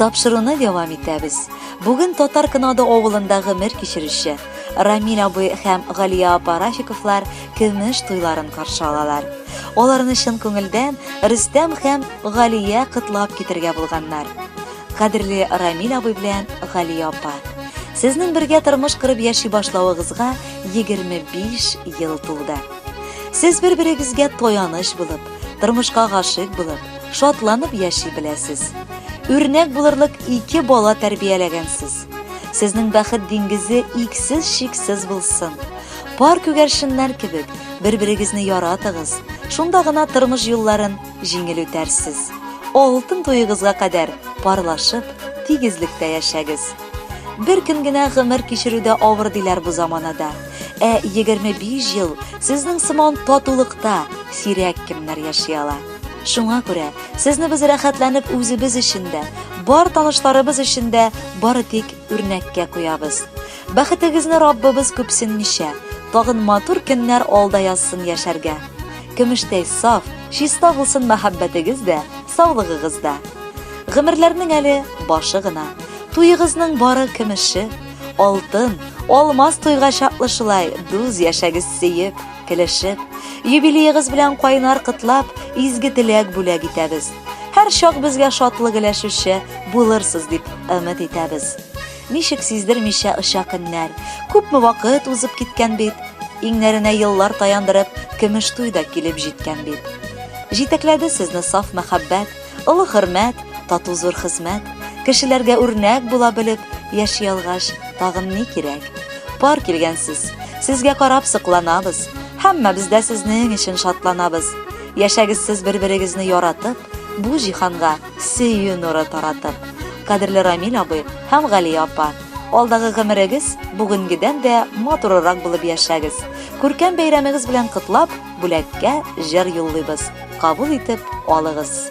Тапшыруны дәвам итәбез. Бүген Татар Кынады авылында гомер кичерүче Рамил абый һәм Галия апа Рафиковлар көмеш туйларын каршы алалар. Аларны чын күңелдән Рөстәм һәм Галия кытлап китергә булганнар. Кадерле Рамил абый белән Галия апа, сезнең бергә тормыш кырып яши башлавыгызга 25 ел тулды. Сез бер-берегезгә таяныч булып, тормышка гашыйк булып, шатланып яши беләсез. Үрнәк булырлык ике бала тәрбияләгәнсез. Сезнең бәхет диңгезе иксез шиксез булсын. Пар күгәршеннәр кебек, бер-берегезне яратыгыз. Шунда гына тормыш юлларын җиңел үтәрсез. Алтын туегызга кадәр парлашып, тигезлектә яшәгез. Бер көн генә гомер кичерү дә авыр диләр бу заманада. Ә 25 ел сезнең сыман татулыкта сирәк кемнәр яши ала. Шуңа күрә сезне без рәхәтләнеп үзебез өчен дә, бар танышларыбыз өчен дә бары тик үрнәккә куябыз. Бәхетегезне Раббыбыз күпсенмичә, тагын матур көннәр алда язсын яшәргә. Көмештәй саф, чиста булсын мәхәббәтегез дә, саулыгыгыз да. Гомерләрнең әле башы гына. Туегызның бары көмеше, алтын, алмаз туйга чаклы шулай дуз яшәгез сөеп, килешеп. Юбилеегыз белән кайнар котлап, изге теләк бүләк итәбез. Һәрчак безгә шатлык өләшүче булырсыз дип өмет итәбез. Ничек сиздермичә оча көннәр. Күпме вакыт узып киткән бит. Иңнәренә еллар таяндырып, көмеш туй да килеп җиткән бит. Җитәкләде сезне саф мәхәббәт, олы хөрмәт, тату зур хезмәт. Кешеләргә үрнәк була белеп, яши алгач, тагын ни кирәк? Пар килгәнсез. Сезгә карап сокланабыз. Һәммәбез дә сезнең өчен шатланабыз. Яшәгез сез бер-берегезне яратып, бу җиһанга сөю нуры таратып, кадерле Рамил абый һәм Галия апа, алдагы гомерегез бүгенгедән дә матурырак булып яшәгез. Күркәм бәйрәмегез белән котлап, бүләккә җыр юллыйбыз. Кабул итеп алыгыз.